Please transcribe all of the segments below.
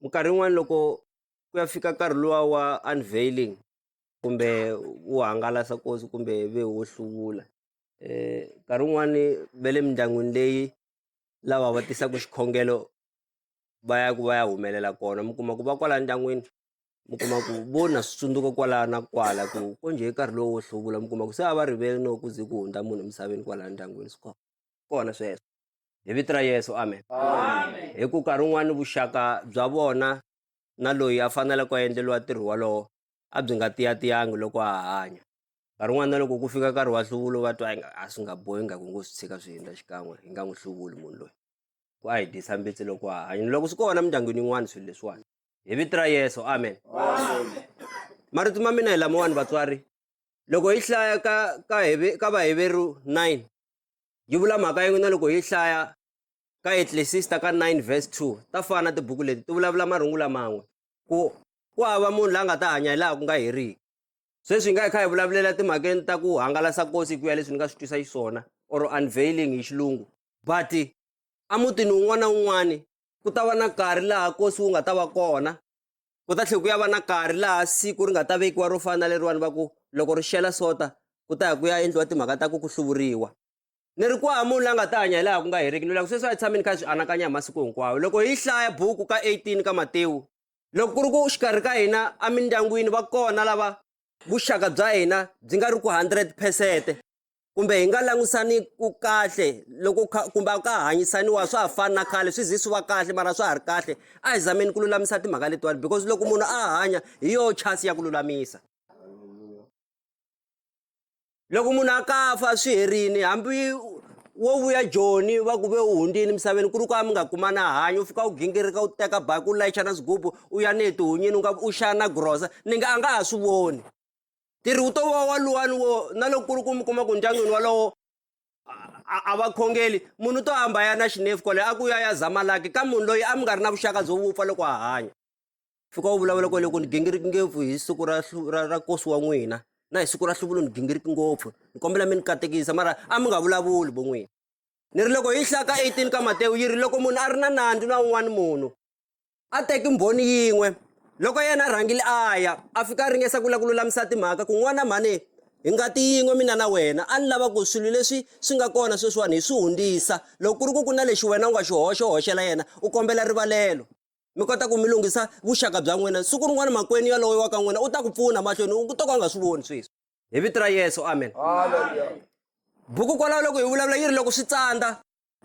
minkarhi yin'wani loko ku ya fika nkarhi luwa wa unveiling kumbe wo hangalasa nkosi kumbe ve wo hluvula nkarhi wun'wani ve le mindyangwini leyi lava va tisaku xikhongelo va ya ku va ya humelela kona mi kuma ku va kwala ndyangwini mi kuma ku vo na swi tsundzuka kwala na kwala ku ko njhe nkarhi lowu wo hluvula mi kuma ku se a va rivele no ku ze ku hundza munhu emisaveni kwalaya ndyangwini swi kona kona sweswo. hi vito ra yesu amen hi ku nkarhi wun'wani vuxaka bya vona na loyi a fanele ku endleriwa ntirho wolowo a byi nga tiyatiyangi loko a hanya nkarhi wun'wana na loko ku fika nkarhi wa nhluvulo va twa inga a swi nga bohi nga ku ngo swi tshika swi hundza xikan'we hi nga n'wi hluvuli munhu loyi ku a hi dyisa mbitsi loko a hanya loko swi kona emindyangwini yin'wana swilo leswiwani hi vito ra yesu amen marito ma mina hi lamawani vatswari loko hi hlaya ka ka heve ka vaheveri 9 yi vula mhaka yin'we na loko hi hlaya ka etlesista ka 9 verse 2 ta fana na tibuku leti ti vulavula marungula man'we ku ku hava munhu la nga ta hanya hi laha ku nga heriki sweswi hi nga hi kha hi vulavulela timhakeni ta ku hangalasa kosi hi ku ya leswi ni nga swi twisa xiswona or unveiling hi xilungu but emutini wun'wana na wun'wana ku ta va na nkarhi laha kosi wu nga ta va kona ku ta tlhela ku ya va na nkarhi laha siku ri nga ta vekiwa ro fana na leriwani va ku loko ri xela sota ku ta ya ku ya endliwa timhaka ta ku ku hluvuriwa ni ri kwaha munhu la nga ta hanya hi laha ku nga heriki ni loko sweswi a hi tshameni kha hi swi anakanya hi masiku hinkwawo loko hi hlaya buku ka 18 ka matewu loko ku ri ku xikarhi ka hina emindyangwini va kona lava vuxaka bya hina byi nga ri ku 100 phesente kumbe hi nga langutisani ku kahle loko kumbe a ka hanyisaniwa swa ha fani na khale swi zi swi va kahle mara swa ha ri kahle a hi zameni ku lulamisa timhaka letiwani because loko munhu a hanya hi yoho chance ya ku lulamisa loko munhu a ka fa swi herini hambi wo vuya joni va ku ve u hundzini misaveni ku ri ku a mi nga kumana hanyi u fika u gingirika u teka baki u layicha na swigubu u ya ni hi tihunyini u nga u xana grosa ni nga a nga ha swi voni ntirho wu to va waluwani wo na loko ku ri ku mi kuma ku ndyangwini walowo a va khongeli munhu to hamba ya na xinefu kwale a ku ya ya zamalaki ka munhu loyi a mi nga ri na vuxaka byo vupfa loko a hanya fika wu vulavula kwale ku ni gingiriki ngopfu hi siku ra ra ra kosi wa n'wina na hi siku ra hluvulo ni gingiriki ngopfu ni kombela mi ni katekisa mara a mi nga vulavuli vo n'wina ni ri loko hi hlaka 18 ka matewu yi ri loko munhu a ri na nandzu na un'wana munhu A teki mbhoni yin'we. Loko yena a rhangile a ya, a fika a ringesa ku lava ku lulamisa timhaka ku, N'wana mhani, hi ngati yin'we mina na wena. A ni lava ku swilo leswi swi nga kona sweswiwani hi swi hundzisa. Loko ku ri ku ku na lexi wena u nga xi hoxa, u hoxela yena, u kombela rivalelo. Mi kota ku mi lunghisa vuxaka bya n'wina. Siku rin'wana makwenu yaloye wa ka n'wina u ta ku pfuna mahlweni, u to ka u nga swi voni sweswi. Hi Vito ra Yesu, amen. Buku kwalaho loko hi vulavula yi ri, Loko Swi Tsandza.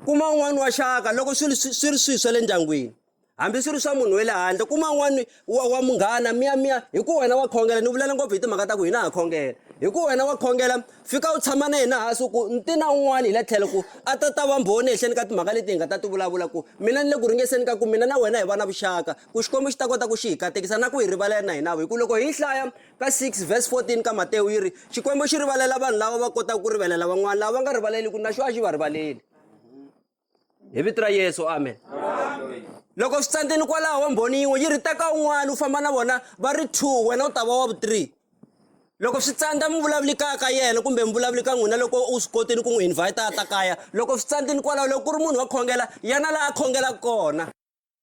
kuma un'wana wa xaka loko swi ri swi ri swilo swa le ndyangwini hambi swi ri swa munhu wa le handle kuma un'wana wa wa munghana miyamiya hi ku wena wa khongela ni vulela ngopfu hi timhaka ta ku hina ha khongela hi ku wena wa khongela fika u tshama na yena hansi ku ni ti na un'wana hi le tlhelo ku a ta ta va mbhoni ehenhleni ka timhaka leti hi nga ta ti vulavula ku mina ni le ku ringeseni ka ku mina na wena hi va na vuxaka ku xikwembu xi ta kota ku xi hi katekisa na ku hi rivalela na hinavo hi ku loko hi yi hlaya Ka 6 vhesi 14 ka Matewu yi ri, Xikwembu xi rivalela vanhu lava va kotaka ku rivalela van'wana, lava va nga rivaleliku na xo a xi va rivaleli. Hi vito ra Yesu, amen. Loko swi tsandzeni kwalaho mbhoni yin'we yi ri teka un'wana u famba na vona va ri two wena u ta va wa vu-three. Loko swi tsandza mi vulavuli kaya ka yena kumbe mi vulavuli ka n'wina loko u swi kotile ku n'wi invhayita a ta kaya. Loko swi tsandzeni kwalaho loko ku ri munhu wa khongela yana laha a khongelaka kona.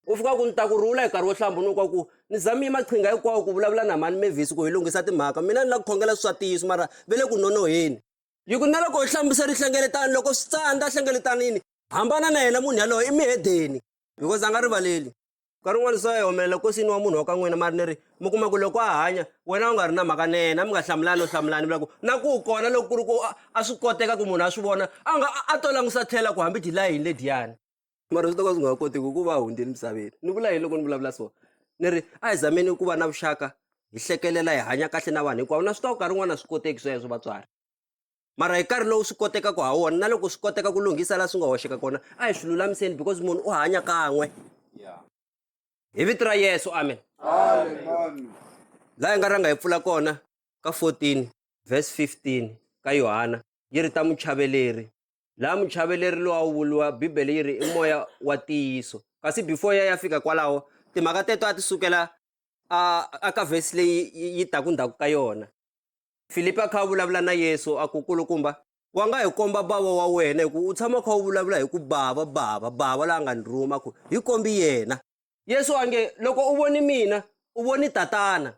u fika ku ni ta ku rhula hi nkarhi wo hlambunuka ku ni zamiye maqhinga hinkwawo ku vulavula na mhani mevhisi ku hi lunghisa timhaka mina ni lava ku khongela swi swa ntiyiso mara ve le ku nonoheni yi ku na loko hi hlambisa rihlengeletano loko swi tsandza hlengeletanini hambana na yena munhu yaloyo i mihedeni because a nga rivaleli nkarhi un'wana swa yi humelela kosini wa munhu wa ka n'wina mari ni ri mi kuma ku loko a hanya wena u nga ri na mhaka na yena mi nga hlamulani no hlamulani vula ku na ku kona loko ku ri ku a swi koteka ku munhu a swi vona a nga a to langusa tlhela ku hambi dilayini lediyani mara swi ta ka swi nga kotiki ku va hundzile misaveni ni vula yini loko ni vulavula so ni ri a hi zameni ku va na vuxaka hi hlekelela hi hanya kahle na vanhu hinkwavo na swi tiva nkarhi wun'wana a swi koteki sweswo vatswari mara hi nkarhi lowu swi kotekaka ha wona na loko swi koteka ku lunghisa laha swi nga hoxeka kona a hi swi lulamiseni because munhu u hanya kan'we hi vito ra yesu amen laha hi nga rhanga hi pfula kona ka 14 verse 15 ka yohana yi ri ta muchaveleri laha muchaveleri lowu a wu vuriwa bibele yi ri i moya wa ntiyiso kasi before ya ya fika kwalaho timhaka teto a ti sukela a a ka vhesi leyi yi taku ndzhaku ka yona filipi a kha a vulavula na yesu a ku kulukumba wa nga hi komba bava wa wena hi ku u tshama kha u vulavula hi ku bava bava bava la nga ni rhuma ku hi kombi yena yesu a nge loko u voni mina u voni tatana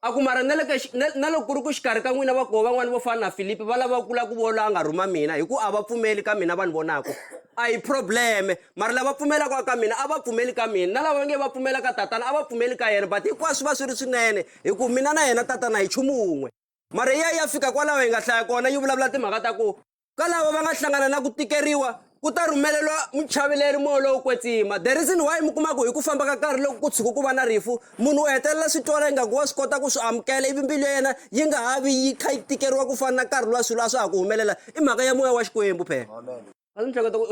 A ku mara na le ka na, na loko ku ri ku xikarhi ka n'wina va koho van'wana vo fana na Filipi va lava ku la ku vona a nga rhuma mina hi ku a va pfumeli ka mina va ni vonaka a hi problem mara lava pfumelaka ka mina a va pfumeli ka mina na lava va nge va pfumela ka tatana a va pfumeli ka yena but hinkwaswo swi va swi ri swinene hi ku mina na yena tatana hi nchumu wun'we mara ya ya fika kwalaho hi nga hlaya kona yi vulavula timhaka ta ku ka lava va nga hlangana na ku tikeriwa ku ta rhumeleriwa muchaveleri moya lowo kwetsima the reason why mi kumaku hi ku famba ka nkarhi loko ku tshuka ku va na rifu munhu u hetelela swi twala ingaku wa swi kota ku swi amukela ivi mbilu ya yena yi nga ha vi yi kha yi tikeriwa ku fana na nkarhi lowa swilo a swa ha ku humelela i mhaka ya moya wa xikwembu phela a ni hleketa ku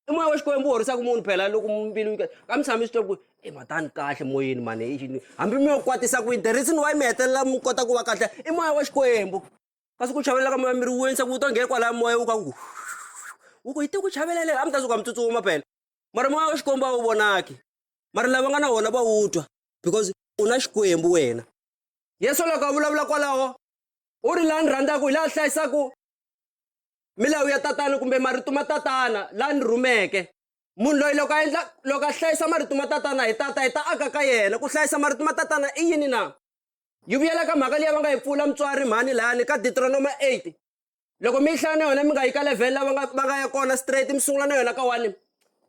i moya wa xikwembu u horisaka munhu phela loko mbilu ka mi tshami swi twa ku i e, matani kahle moyeni mani hambi mi yo kwatisa ku yini the reason why mi hetelela mi kota ku va kahle i moya wa xikwembu kasi ku chavela ka moya miri wu wenisa ku wu ta nghena kwalaya moya wu ka ku wu ku yi te ku chavela leri a mi ta suka mi tsutsuma phela mara moya wa xikwembu a wu vonaki mara lava nga na wona va wu twa because u na xikwembu wena yesu loko a vulavula kwalaho u ri laha ni rhandzaka hi laha hlayisaka milawu ya tatana kumbe marito ma tatana laha ni rhumeke munhu loyi loko a endla loko a hlayisa marito ma tatana hi tata hi ta aka ka yena ku hlayisa marito ma tatana i yini na Yi vuyela ka mhaka liya va nga yi pfula mutswari mhani layani ka Deuteronoma 8. Loko mi yi hlaya na yona mi nga yi ka level la va nga va nga ya kona straight mi sungula na yona ka wani.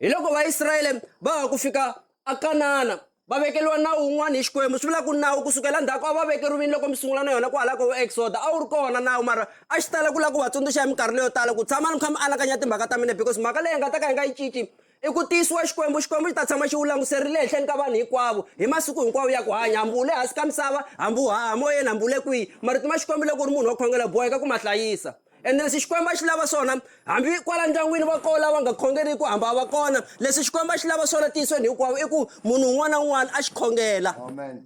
Hi loko Vaisrayele va ha ku fika a Kanana va vekeliwa nawu wun'wana hi Xikwembu swi vula ku nawu ku sukela ndzhaku a va vekeriwini loko mi sungula na yona kwahala ko vo Exoda a wu ri kona nawu mara a xi tala ku lava ku va tsundzuxa hi minkarhi leyo tala ku tshamani mi kha mi anakanya timhaka ta mina because mhaka leyi hi nga ta ka hi nga yi cinci I ku tiyisiwa Xikwembu, Xikwembu xi ta tshama xi wu languserile ehenhleni ka vanhu hinkwavo, hi masiku hinkwawo ya ku hanya, hambi u le hansi ka misava, hambi u haha moyeni, hambi u le kwihi. Marito ma Xikwembu loko u ri munhu wa ku khongela u boheka ku ma hlayisa. Ende leswi Xikwembu a xi lava swona, hambi kwala ndyangwini va kona lava nga khongeriki, hambi a va kona, leswi Xikwembu a xi lava swona entiyisweni hinkwawo i ku munhu un'wana na un'wana a xi khongela. Amen.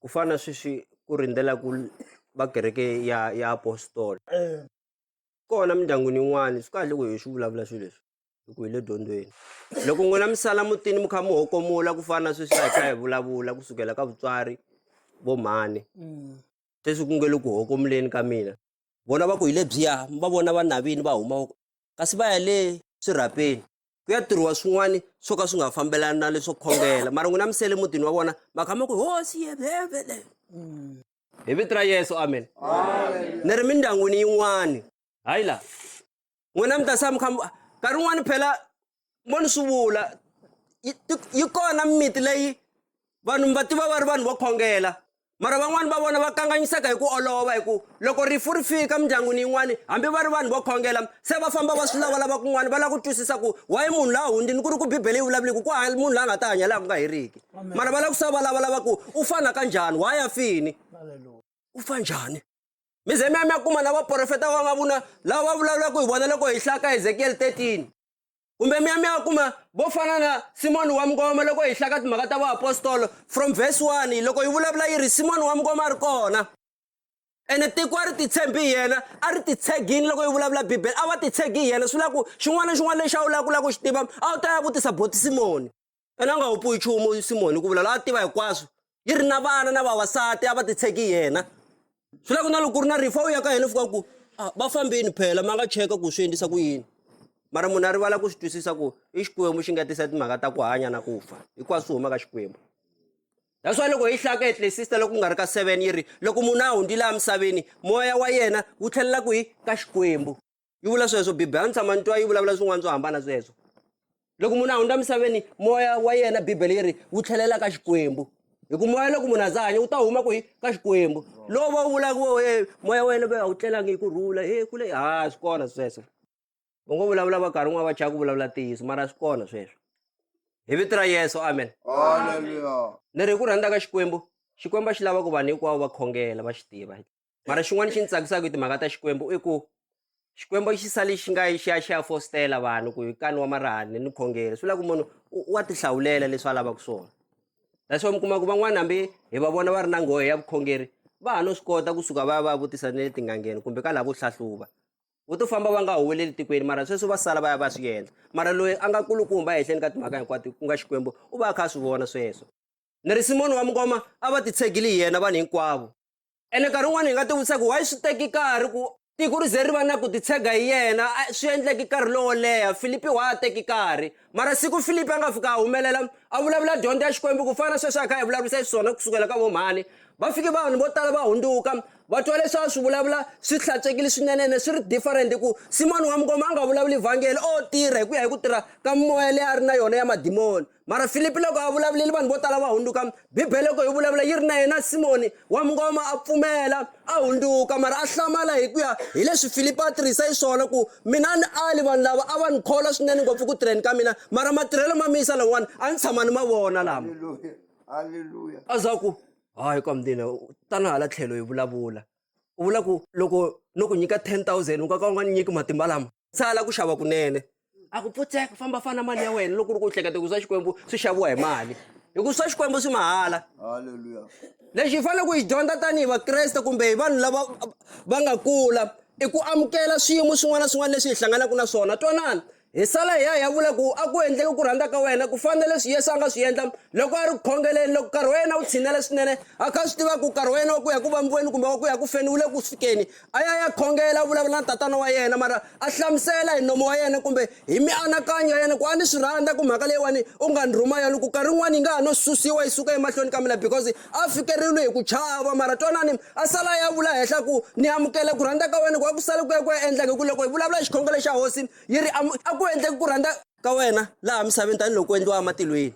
ku fana na sweswi ku rindzela ku va kereke ya ya apostola kona mindyangwini yin'wani swi kahle ku hi swi vulavula swilo leswi hi ku hi le dyondzweni loko n'wina mi sala mutini mi kha mi hokomula ku fana na sweswi hi kha hi vulavula kusukela ka vutswari vo mhani sweswi ku nge le ku hokomuleni ka mina vona va ku hi lebyiya mi va vona va navini va huma kasi va ya le swirhapeni ku ya tirhiwa swin'wana swo ka swi nga fambelani na leswo khongela mara n'wina misele mutini wa vona mhaka ma ku hosi yevhevele hi vito ra yesu amen ni ri mindyangwini yin'wani hayi la n'wina mi ta sa mikha nkarhi wun'wani phela mo ni swi vula yi kona mimiti leyi vanhu mi va tiva va ri vanhu vo khongela mara van'wani va vona va kanganyiseka hi ku olova hi ku loko rifu ri fika mindyangwini yin'wani hambi va ri vanhu vo khongela se va famba va swi lavalava kun'wana va lava ku twisisa ku waye munhu la hundzini ku ri ku bibele yi vulavuleki ku hava munhu la nga ta hanya laha ku nga heriki mara va lava ku sa va lavalava ku u fana ka njhani wa ya fini u fa njhani mi ze mi ya mi ya kuma na vaprofeta va nga vuna lava va vulavulaka hi vona loko hi hlaya ka ezekiyele 13 kumbe mi ya mi ya kuma vo fana na simoni wa mngoma loko hi hlaka timhaka ta vaapostolo from verse 1 loko yi vulavula yi ri simoni wa mngoma a ri kona ene tiko a ri titshembi hi yena a ri titshegini loko yi vulavula bibele a va titshegi hi yena swi vula ku xin'wana na xin'wana lexi a wu lava ku lava ku xi tiva a wu ta ya vutisa boti simoni ene a nga wu puyi nchumu simoni ku vula la a tiva hinkwaswo yi ri na vana na vavasati a va titsheki yena swi lava ku na loko ku ri na rifa u ya ka yena fika ku ah, va fambeni phela ma nga cheka ku swi endlisa ku yini mara munhu a rivala ku swi twisisa ku i xikwembu xi nga tisa timhaka ta ku hanya na ku fa hinkwaswo swi huma ka xikwembu that's why loko hi hlaya ka etlesista loko ku nga ri ka seven yi ri loko munhu a hundzile emisaveni moya wa yena wu tlhelela kwihi ka xikwembu yi vula sweswo bibele a ni tshama ni twa yi vulavula swin'wana swo hambana sweswo loko munhu a hundza misaveni moya wa yena bibele yi ri wu tlhelela ka xikwembu hi ku moya loko munhu a za hanya wu ta huma kwihi ka xikwembu lowu va wu vulaka wo e moya wa yena va a wu tlelangi hi ku rhula he ku le ha swi kona sweswo u ngo vulavula va karhi n'wana va chaya ku vulavula ntiyiso mara swi kona sweswo hi vito ra yesu amen ni ri hi ku rhandza ka xikwembu xikwembu a xi lava ku vanhu hinkwavo va khongela va xi tiva mara xin'wana xi ni tsakisaka hi timhaka ta xikwembu i ku xikwembu xi sale xi nga xi ya xi ya fostela vanhu ku hi kani wa marihani ni khongeri swi vula ku munhu wa tihlawulela leswi a lavaka swona that's why mi kuma ku van'wana hambi hi va vona va ri na nghohe ya vukhongeri va ha no swi kota kusuka va ya va ya vutisa ni le tingangeni kumbe ka lavo hlahluva vo to famba va nga huweleli tikweni mara sweswo va sala va ya va swi endla mara loyi a nga kulukumba ehenhleni ka timhaka hinkwato ku nga xikwembu u va a kha a swi vona sweswo ni ri simoni wa mungoma a va titshegile hi yena vanhu hinkwavo ene nkarhi wun'wana hi nga ti vutisa ku why swi teki nkarhi ku tiko ri ze ri va na ku titshega hi yena swi endleki nkarhi lowo leha filipi wa a teki nkarhi mara siku filipi a nga fika a humelela a vulavula dyondzo ya xikwembu ku fana na sweswi a kha hi vulavurisa xiswona ku sukela ka vomhani va fike vanhu vo tala va hundzuka va twa leswi a swi vulavula swi hlantswekile swinene ene swi ri different ku simoni wa mukoma a nga vulavuli vhangeli o tirha hi ku ya hi ku tirha ka moya leyi a ri na yona ya madimoni mara filipi loko a vulavuleli vanhu vo tala va hundzuka bibele loko hi vulavula yi ri na yena simoni wa mungoma a pfumela a hundzuka mara a hlamala hi ku ya hi leswi filipi a tirhisa hi swona ku mina ni ali vanhu lava a va ni kholwa swinene ngopfu ku tirheni ka mina mara matirhelo ma miyisa lawani a ni tshama ni ma vona lama a za ku hayi ka mdina tana hala tlhelo hi vulavula u vula ku loko no ku nyika 10000 u ka ka u nga ni nyiki matimba lama tsala ku xava kunene a ku pfutseka famba fana mali ya wena loko ri ku hleketa ku swa xikwembu swi xaviwa hi mali hikuva swa xikwembu swi mahala halleluya lexi hi faneleke hi dyondza tanihi vakreste kumbe hi vanhu lava va nga kula i ku amukela swiyimo swin'wana na swin'wana leswi hi hlanganaka na swona twanana hi sala hi ya hi ya vula ku a ku endleke ku rhandza ka wena ku fana na leswi yesu a nga swi endla loko a ri ku khongeleni loko nkarhi wa yena wu tshinele swinene a kha swi tiva ku nkarhi wa yena wa ku ya ku vambiweni kumbe wa ku ya ku feni wu le ku fikeni a ya ya khongela a vulavula na tatana wa yena mara a hlamusela hi nomo wa yena kumbe hi mianakanyo ya yena ku a ni swi rhandza ku mhaka leyiwani u nga ni rhuma yona ku karhi yin'wana yi nga ha no susiwa yi suka emahlweni ka mina because a fikeriwile hi ku chava mara twanani a sala ya vula henhla ku ni amukela ku rhandza ka wena ku a ku sale ku ya ku ya endleke ku loko hi vulavula hi xikhongelo xa hosi yi ri a ku endleki ku rhandza ka wena laha misaveni tanihiloko ku endliwa ematilweni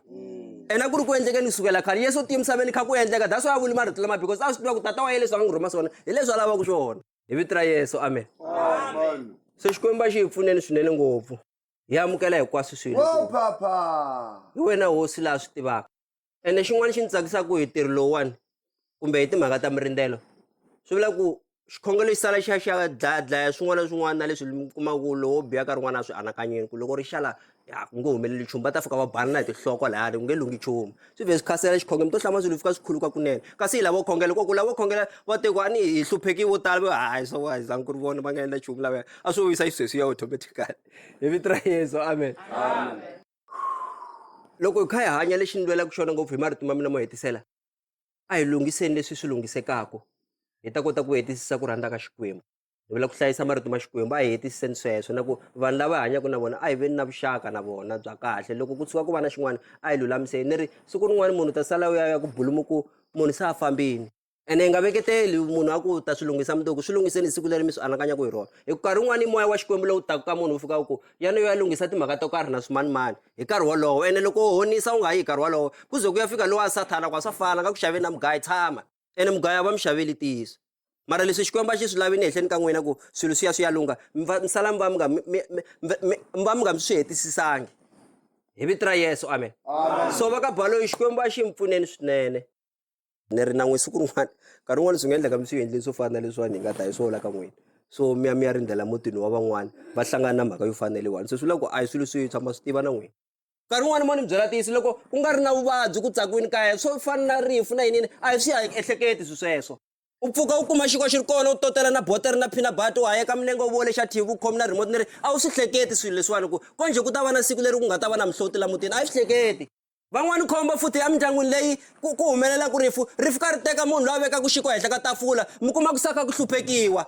ena mm. ku ri ku endleke ni sukela khale yesu u tiye misaveni kha ku endleka that's why a vuli marito lama because a swi tiva ku tata wa ye leswi a n'wi rhuma swona hi leswi a lavaka swona hi vito ra yesu amen so xikwembu a xi hi pfuneni swinene ngopfu hi amukela hinkwaswo swilo hi wena hosi laha swi tivaka ene xin'wana xi ndzi tsakisaka hi ntirho lowuwani kumbe hi timhaka ta mirindzelo swi vula ku xikhongelo xi sala xi ya xi ya dlaya dlaya swin'wana na swin'wana na leswi mi kumaka ku lowo biha ka rin'wana a swi anakanyeni ku loko ri xala ya ku nge humeleli nchumu va ta fika va balana hi tihloko lahayani ku nge lunghi nchumu swi vhe swi khasela xikhongelo mi to hlama swilo fika swi khuluka kunene kasi hi lavo khongela koku lavo khongela va teku a ni hi hlupheki vo tala va hayi swa wa hi zangi ku ri vona va nga endla nchumu lavaya a swo vuyisa xisweswi ya automatically hi vito ra yeso amen, amen. loko hi kha hi hanya lexi ni lwelaka xona ngopfu hi marito ma mina mo hetisela a hi lunghiseni leswi swi lunghisekaka hi ta kota ku hetisisa ku rhandza ka xikwembu hi vula ku hlayisa marito ma xikwembu a hi hetisiseni sweswo na ku vanhu lava hi hanyaka na vona a hi veni na vuxaka na vona bya kahle loko ku tshuka ku va na xin'wana a hi lulamiseni ni ri siku rin'wana munhu ta sala u ya ya ku bulumuku munhu se a fambini ene hi nga veketeli munhu a ku ta swi lunghisa mundzuku swi lunghiseni hi siku leri mi swi anakanyaka hi rona hi nkarhi wun'wani moya wa xikwembu lowu taku ka munhu wu fika u ku ya ni yo ya lunghisa timhaka to karhi na swimanimani hi nkarhi wolowo ene loko u honisa u nga yi hi nkarhi wolowo ku ze ku ya fika lowa sathana ku a swa fana nga ku xaveni na mugayi tshama ene mugayi a va mi xaveli ntiyiso mara leswi xikwembu a xi swi lavi ni ehleni ka n'wina ku swilo swi ya swi ya lungha mi va mi sala mi va mi nga mi- mi- mi- mi- mi- mi va mi nga mi swi hetisisangi hi vito ra yesu amen so va ka baloyi xikwembu a xi mi pfuneni swinene ni ri na n'we siku rin'wana nkarhi wun'wani swi nga endleka mi swi endleni swo fana na leswiwani hi nga ta hi swo hola ka n'wina so mi ya mi ya rindzela mutini wa van'wani va hlangana na mhaka yo fana na leyiwani se swi vula ku a hi swilo swi tshama swi tiva na n'wina nkarhi wun'wani mo ni byela tiyisi loko ku nga ri na vuvabyi ku tsakiwini kaya swo fana na rifu na yinini a hi swi ya ehleketi swi sweswo u pfuka u kuma xikwa xi ri kona u totela na bota ri na phina bata u hayeka milenge u vole xa thivi u khomi na remote ni ri a wu swi hleketi swilo leswiwani ku konje ku ta va na siku leri ku nga ta va na mihloti la mutini a yi swi hleketi van'wani khombo futhi emindyangwini leyi ku ku humelela ku rifu rifu ka ri teka munhu loyi a veka ku xiko henhla ka tafula mi kuma ku saka ku hluphekiwa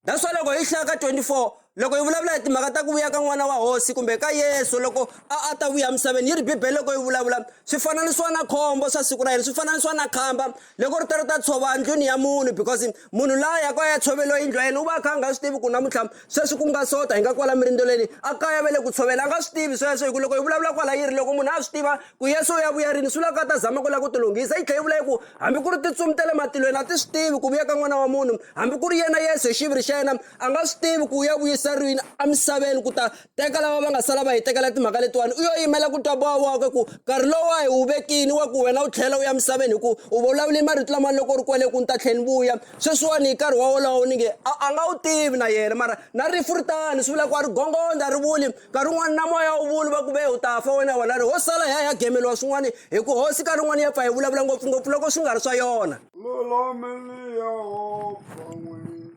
that's why loko hi hlaya ka 24 loko hi vulavula hi timhaka ta ku vuya ka n'wana wa hosi kumbe ka yesu loko a a ta vuya emisaveni yi ri bibele loko yi vulavula swi fananisiwa na khombo swa siku ra yena swi fananisiwa na khamba loko ri ta ri ta tshova ndlwini ya munhu because Munhu la yaka a ya tshoveriwa yindlu ya yena u va a kha a nga swi tivi ku namuntlha sweswi ku nga sota hi nga kwala mirindzelweni a kaya va le ku tshovela a nga swi tivi sweswo hi ku loko hi vulavula kwala yi ri loko munhu a swi tiva ku yesu u ya vuya rini swi vulaka a ta zama ku lava ku tilunghisa yi tlhela yi vula yi ku hambi ku ri tintsumi ta le matilweni a ti swi tivi ku vuya ka n'wana wa munhu hambi ku ri yena yesu hi xiviri xa yena a nga swi tivi ku u ya vuyisa rini emisaveni ku ta teka lava va nga sala va hi tekela timhaka letiwani u yo yimela ku twa boha wakwe ku nkarhi lowu wa hi wu vekini wa ku wena u tlhela u ya misaveni hi ku u vulavule marito lamani loko u ri kwele ku ni ta tlhela ni vuya sweswiwani hi nkarhi wa wolowo ni nge a a nga wu tivi na yena mara na rifu ri tani swi vula ku a ri gongonda a ri vuli nkarhi wun'wani na moya wu vuli va ku ve u ta fa wena wena ri ho sala hi ya hi ya gemeliwa swin'wani hi ku hosi nkarhi wun'wani ya pfa hi vulavula ngopfungopfu loko swi nga ri swa yona lulameni yehovha n'wini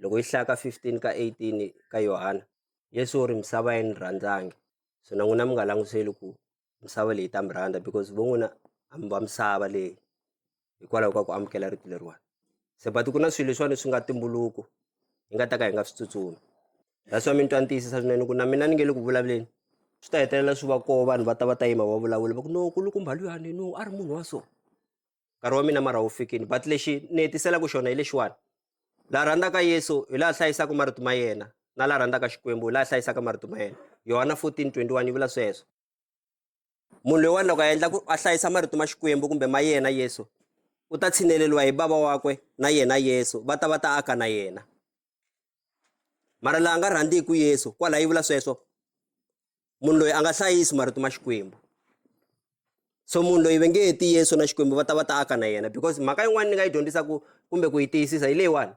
Loko yi hlaya ka 15 ka 18 ka Yohana, Yesu u ri, Misava a yi ni rhandzangi, swona n'wina mi nga langutiseli ku misava leyi yi ta mi rhandza because vo n'wina a mi va misava leyi hikwalaho ka ku amukela rito leriwani. Se but ku na swilo leswiwani swi nga tumbuluko hi nga ta ka hi nga swi tsutsumi. That's why mi ni twa ni tiyisisa swinene ku na mina ni nge le ku vulavuleni swi ta hetelela swi va koho vanhu va ta va ta yima va vulavula va ku no nkulukumba luyani no a ri munhu wa so. nkarhi wa mina mara wu fikini but lexi ni hetiselaka xona hi lexiwani la rhandzaka yesu hi laha hlayisaka marito ma yena na la rhandzaka xikwembu hi laha hlayisaka marito ma yena yohana 1421 yi vula sweswo munhu loyiwani loko a endla ku a hlayisa marito ma xikwembu kumbe ma yena yesu u ta tshineleriwa hi bava wakwe na yena yesu va ta va ta aka na yena mara laha nga rhandziku yesu kwalaho yi vula sweswo munhu loyi a nga hlayisi marito ma xikwembu so munhu loyi ve nge heti yesu na xikwembu va ta va ta aka na yena because mhaka yin'wana ni nga yi dyondzisaku kumbe ku yi tiyisisa hi leyiwani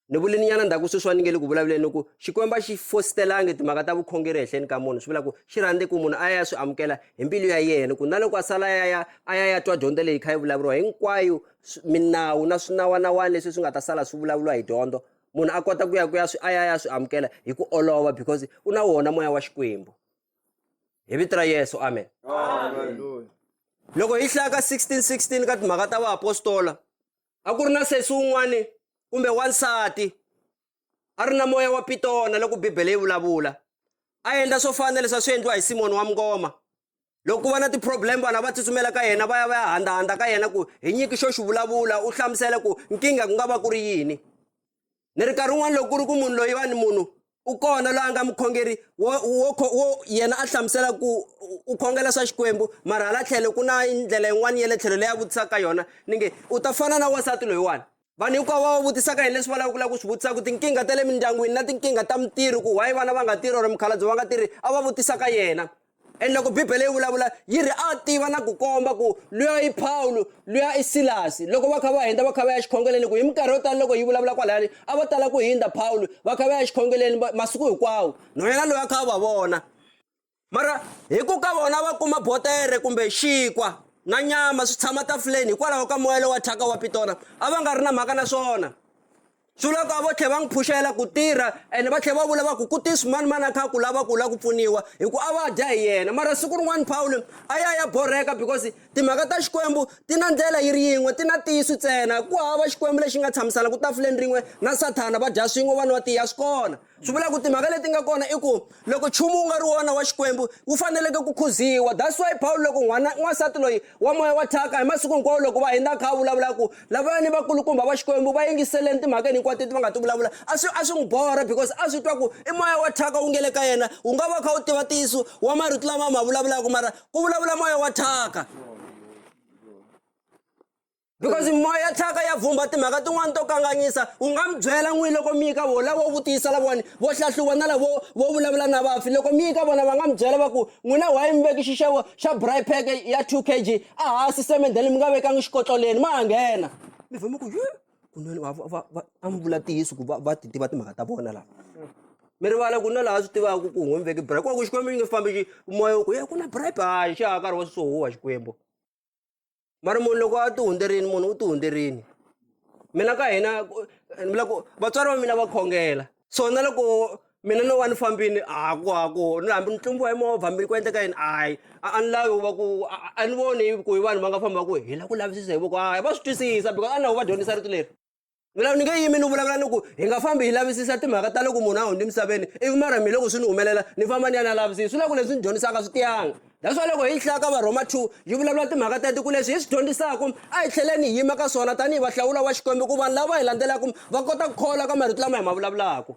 ni vule ni nyana ndzhaku sweswi va ni nge le ku vulavuleni ni ku xikwembu a xi fositelangi timhaka ta vukhongeri ehenhleni ka munhu swi vula ku xi rhandze ku munhu a ya ya swi amukela hi mbilu ya yena ku na loko a sala ya ya a ya ya twa dyondzo leyi kha yi vulavuriwa hinkwayo minawu na swinawanawani leswi swi nga ta sala swi vulavuriwa hi dyondzo munhu a kota ku ya ku ya swi a ya ya swi amukela hi ku olova because u na wona moya wa xikwembu hi vito ra yesu amen loko hi hlaya ka 1616 ka timhaka ta vaapostola a ku ri na sesi wun'wani kumbe wansati a ri na moya wa pitona loko bibele yi vulavula a endla swo fana na leswi a swi endliwa hi simoni wa mngoma loko ku va na ti-problem vanhu va tsutsumela ka yena va ya va ya handahandza ka yena ku hi nyiki xo xi vulavula u hlamusela ku nkingha ku nga va ku ri yini ni ri nkarhi wun'wana loko ku ri ku munhu loyi va ni munhu u kona loyi a nga mukhongeri wo wo wo yena a hlamusela ku u khongela swa xikwembu mara hala tlhelo ku na ndlela yin'wana ya le tlhelo leyi a vutisaka yona ni nge u ta fana na wansati loyiwani vanhu hinkwavo va va vutisaka hi leswi va lava ku lava ku swi vutisaka tinkingha ta le mindyangwini na tinkingha ta mitirhi ku why vana va nga tirhi or mukhalabye va nga tirhi a va vutisaka yena and loko bibele yi vulavula yi ri a tiva na ku komba ku luya i pawulo luya i silasi loko va kha va hundza va kha va ya xikhongeleni ku hi minkarhi yo tala loko yi vulavula kwalayani a va tala ku hundza pawulo va kha va ya xikhongeleni masiku hinkwawo no yena loyi a kha a va vona mara hi ku ka vona va kuma botere kumbe xinkwa na nyama swi tshama tafuleni hikwalaho ka moya lowa thyaka wa pitona a va nga ri na mhaka na swona swi loko a vo tlhe va n'wi phuxela ku tirha ene va tlhela va vula va ku ku tisi mani mani a kha ku lava ku la ku pfuniwa hi ku a va dya hi yena mara siku rin'wana pawulo a ya ya borheka because timhaka ta xikwembu ti na ndlela yi ri yin'we ti na tiyisu ntsena ku hava xikwembu lexi nga tshamisana ku tafuleni rin'we na sathana va dya swin'we vanwa tiya swi kona swi vula ku timhaka leti nga kona i ku loko nchumu wu nga ri wona wa xikwembu wu faneleke ku khuziwa that's why pawulo loko n'wana n'wansati loyi wa moya wa thyaka hi masiku hinkwawo loko va hindza kha a vulavula ku lavaya ni vakulukumba va xikwembu va yingiseleni timhakeni hinkwato leti va nga ti vulavula a swi a swi n'wi borha because a swi twa ku i moya wa thyaka wu nge le ka yena wu nga va kha wu tiva ntiyiso wa marito lama ma vulavulaka mara ku vulavula moya wa thyaka because moya thyaka ya vhumba timhaka tin'wana to kanganyisa u nga mi byela n'wini loko mi yi ka vona lavo vutisa lavawani vo hlahluva na lavo vo vulavula na vafi loko mi yi ka vona va nga mi byela va ku n'wina waye mi veki xixevo xa bry pack ya two k g a hansi semendeni mi nga vekangi xikotloleni ma ha nghena mi vhe mi ku kunene a mi vula tiyiso ku va ti tiva timhaka ta vona lava mi rivala ku na laha swi tivaka ku n'wi mi veki bry kwaku xikwembu xi nge fambi xi moya ku ye ku na bribe hayi xa ha karhi wa swisohuwa xikwembu va ri munhu loko a ti hundzerini munhu u ti hundzerini mina ka hina loko vatswari va mina va khongela so na loko mina no va ni fambini haku haku ni hambi ni tlumbiwa hi movha hambi ku endleka yini hayi a ni lavi va ku a ni voni ku hi vanhu va nga famba va ku hi lava ku lavisisa hi voko hayi va swi twisisa because a na vo va dyondzisa rito leri vulavu ni nge yimi ni vulavula ni ku hi nga fambi hi lavisisa timhaka ta loko munhu a hundzi emisaveni ivi mara mi loko swi ni humelela ni famba ni ya na lavisisa swi la ku leswi ni dyondzisaka swi tiyanga that's why loko hi hlaya ka varhoma two yi vulavula timhaka teti ku leswi hi swi dyondzisaka a hi tlheleni hi yima ka swona tanihi vahlawula wa xikwembu ku vanhu lava hi landzelaka va kota ku kholwa ka marito lama hi ma vulavulaka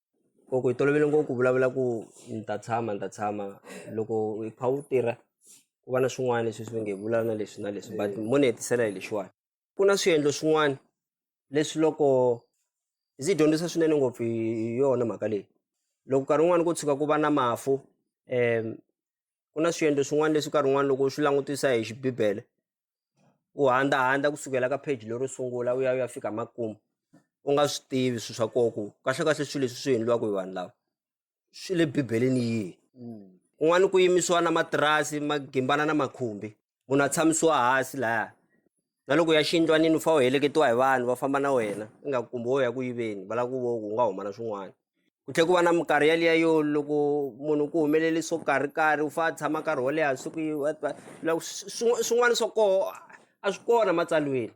loko hi tolovele ngopfu ku vulavula ku ni ta tshama ni ta tshama loko hi kha wu tirha ku va na swin'wana leswi swi nge vula na leswi na leswi but mo ni hetisela hi lexiwani ku na swiendlo swin'wana leswi loko ndzi dyondzisa swinene ngopfu hi yona mhaka leyi loko nkarhi wun'wani ko tshuka ku va na mafu ku na swiendlo swin'wana leswi nkarhi wun'wani loko u swi langutisa hi xibibele u handza handza kusukela ka page lero sungula u ya u ya fika makumu u nga swi tivi swilo swa koho ku kahle kahle swilo leswi swi endliwaka hi vanhu lava swi le bibeleni yihi kun'wana ku yimisiwa na matirasi ma gimbana na makhumbi munhu a tshamisiwa hansi laya na loko ya xiyindlwanini u fanele u heleketiwa hi vanhu va famba na wena ingaku kumbe wo ya ku yiveni va lava ku vo ku u nga huma na swin'wana ku tlhela ku va na minkarhi yaliya yo loko munhu ku humelele swo karhi karhi u fanele a tshama nkarhi wo leha siku swin'wana swa koho a swi kona matsalweni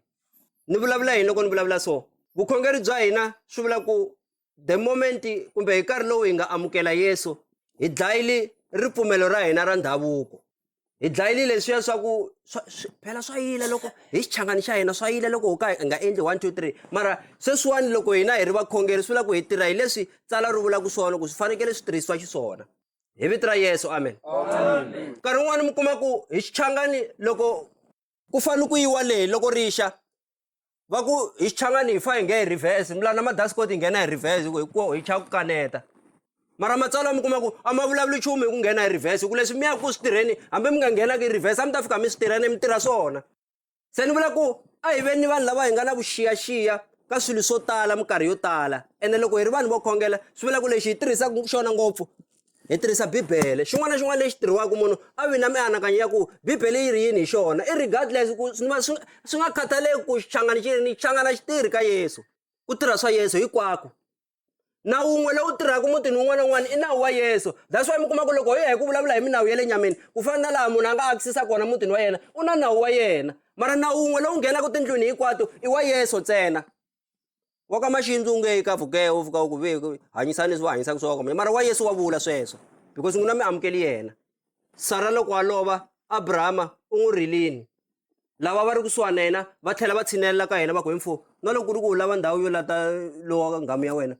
ni vulavula yini loko ni vulavula so vukhongeri bya hina swi vula ku the moment kumbe hi nkarhi lowu hi nga amukela yesu hi dlayile ripfumelo ra hina ra ndhavuko hi dlayile leswiya swa ku phela swa yile loko hi xichangani xa hina swa yile loko ho ka hi nga endli one two three mara sweswiwani loko hina hi ri vakhongeri swi vula ku hi tirha hi leswi tsala ri vulaka swona ku swi fanekele swi tirhisiwa xiswona hi vito ra yesu amen nkarhi wun'wani mi kuma ku hi xichangani loko ku fanele ku yiwa leyi loko rixa va ku hi xichangani hi fa hi nge hi reverse mila na madasikot hi nghena hi reverse ku hikuo hi cha ku kaneta mara matsalwa mi kuma ku a ma vulavuli nchumu hi ku nghena hi reverse ku leswi mi yaka ku swi tirheni hambi mi nga nghenaka hi reverse a mi ta fika mi swi tirheni mi tirha swona se ni vula ku a hi veni ni vanhu lava hi nga na vuxiyaxiya ka swilo swo tala minkarhi yo tala ene loko hi ri vanhu vo khongela swi vula ku lexi hi tirhisaka xona ngopfu Hi tirhisa Bibele. Xin'wana na xin'wana lexi tirhiwaka munhu a vi na mianakanyo ya ku Bibele yi ri yini hi xona. I regardless ku swi swi nga khathaleki ku xichangani xi rini, xichangana xi tirhi ka Yesu. Ku tirha swa Yesu hinkwako. Na wun'we lowu tirhaka mutini wun'wana na wun'wana i nawu wa Yesu. That's why mi kuma ku loko hi ya hi ku vulavula hi minawu ya le nyameni, ku fana na laha munhu a nga akisisa kona mutini wa yena, u na nawu wa yena. Mara nawu wun'we lowu nghenaka tindlwini hinkwato i wa Yesu ntsena. wa ka maxindzi u nge ka vugehe u fika u ku ve hanyisani leswi va hanyisaka swona kambe mara wa yesu wa vula sweswo because n'wina mi amukeli yena sara loko a lova abrahama u n'wi rilini lava va ri kusuhani na yena va tlhela va tshinelela ka yena va ku hi mfo na loko ku ri ku u lava ndhawu yo lata lowa nghamu ya wena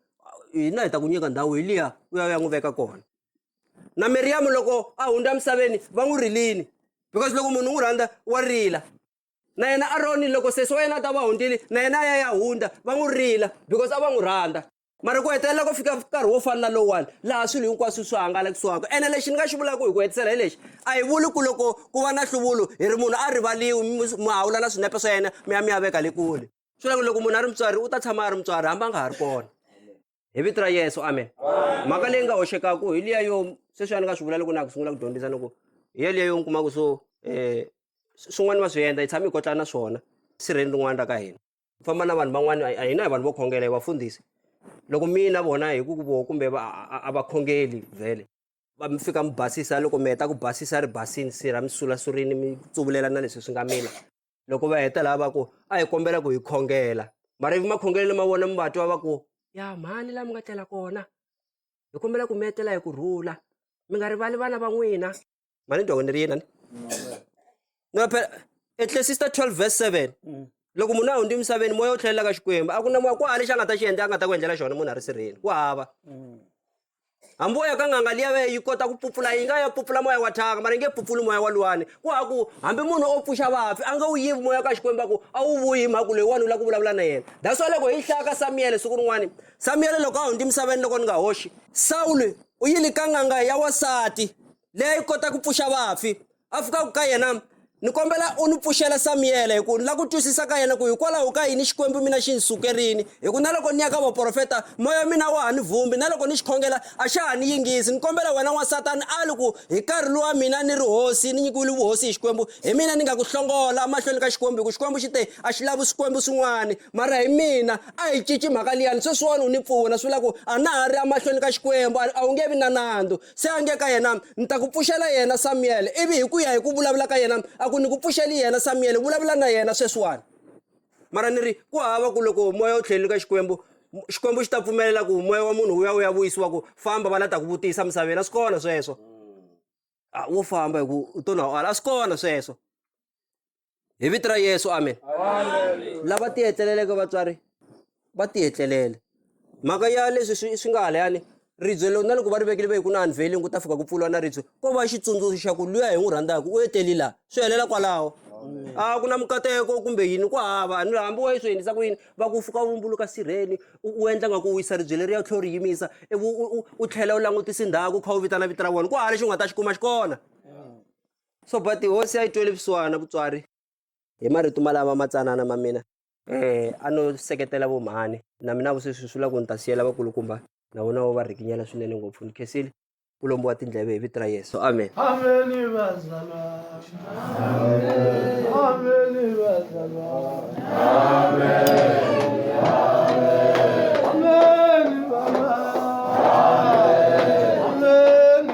hina hi ta ku nyika ndhawu hi liya u ya u ya n'wi veka kona na miriyamu loko a hundza emisaveni va n'wi rilini because loko munhu u n'wi rhandza wa rila na yena aroni loko sesi wa yena a ta va hundzile na yena a ya ya hundza va n'wi rila because a va n'wi rhandza mara ku hetelela ku fika nkarhi wo fana na lowuwani laha swilo hinkwaswo swi hangalakisiwaka ene lexi ni nga xi vulaka hi ku hetisela hi lexi a hi vuli ku loko ku va na nhluvulo hi ri munhu a rivaliwi mi hawula na swinepe swa yena mi ya mi ya veka le kule swi vula ku loko munhu a ri mutswari u ta tshama a ri mutswari hambi a nga ha ri kona hi vito ra yesu amen mhaka leyi nga hoxekaku hi liya yo sweswi a ni nga swi vula loko na ha ku sungula ku dyondzisa ni ku hi ya liya yo ni kumaku so um swin'wana va swi endla hi tshame hi kotlana swona sirheni rin'wana ra ka hina ku famba na vanhu van'wana a hina hi vanhu vo khongela hi vafundhisi loko mina vona hi ku ku voho kumbe a va khongeli vhele va mi fika mi basisa loko mi heta ku basisa ri basini sirha mi sulasurini mi tsuvulela na leswi swi nga mila loko va heta laha va ku a hi kombela ku hi khongela mara ivi makhongelelo ma vona mi va twa va ku ya mhani laha mi nga tlela kona hi kombela ku mi etlela hi ku rhula mi nga rivali vana va n'wina mali ni twa ni ri yini ni ni va phela etlesista twelve verse seven mm. loko munhu a hundzi emisaveni moya wu tlhelela ka xikwembu a ku na moya ku hava lexi a nga ta xi endla a nga ta ku endlela xona munhu a ri sirheni ku hava mm. ambo yakangangalia ve yikota kupupula inga yapupula moya wa thaka mara inge pupuli moya wa luwani kwaku hambi munhu o pfuxa vafi a nga wu yivi moya ka xikwemba ku a wu vuyi mhaku leyi wani u la ku vulavula na yena that's why loko hi hlaya ka samiyele siku rin'wani samiyele loko a hundzi misaveni loko ni nga hoxi sawule u yile ka n'anga ya wasati leyi kota ku pfuxa vafi a fikaka ka yena ni kombela u ni pfuxela samiyele hi ku ni lava ku twisisa ka yena ku hikwalaho ka yini xikwembu mina xi ni sukerini hi ku na loko ni ya ka vaprofeta moya wa mina wa ha ni vhumbi na loko ni xi khongela a xa ha ni yingisi ni kombela wena n'wansatani a li ku hi nkarhi lowa mina ni ri hosi ni nyikiwile vuhosi hi xikwembu hi mina ni nga ku hlongola emahlweni ka xikwembu hi ku xikwembu xi te a xi lavi swikwembu swin'wana mara hi mina a hi cinci mhaka liyani sweswiwani u ni pfuna swi vula ku a na ha ri emahlweni ka xikwembu a wu nge vi na nandzu se a nge ka yena ni ta ku pfuxela yena samiyele ivi hi ku ya hi ku vulavula ka yena a ku ni ku pfuxeli yena samiyele vulavula na yena sweswiwani mara ni ri ku hava ku loko moya wu tlhelini ka xikwembu xikwembu xi ta pfumelela ku moya wa munhu wu ya wu ya vuyisiwa ku famba va la ta ku vutisa misaveni a swi kona sweswo a wo famba hi ku u to na ala a swi kona sweswo hi vito ra yesu amen lava tihetleleleke vatswari va tihetlelele mhaka ya leswi swi swi nga halayani ribye lo na loko va ri vekile ve ku na unveiling ku ta fika ku pfuriwa na ribye ko va xitsundzuxo xa ku luya hi n'wi rhandzaka u eteli laha swi helela kwalaho a ku na mikateko kumbe yini ku hava ni hambi wa yi swi endlisa ku yini va ku fuka vumbuluka sirheni u endla nga ku wisa ribye leri ya tlhelo ri yimisa ivi u tlhela u langutisa ndhawu kha u vitana vito ra vona ku hava lexi u nga ta xi kuma xi kona So but hosi a yi tweli vusiwana vutswari hi marito malama matsanana ma mina eh a no seketela vo mhani na mina vusweswi swi la ku ni ta siyela vakulukumba na vona vo va rikinyela swinene ngopfu ni khensile ku lombiwa tindleve hi vito ra yesu amen Ameni bazalwane. Ameni bazalwane. Ameni baba. Ameni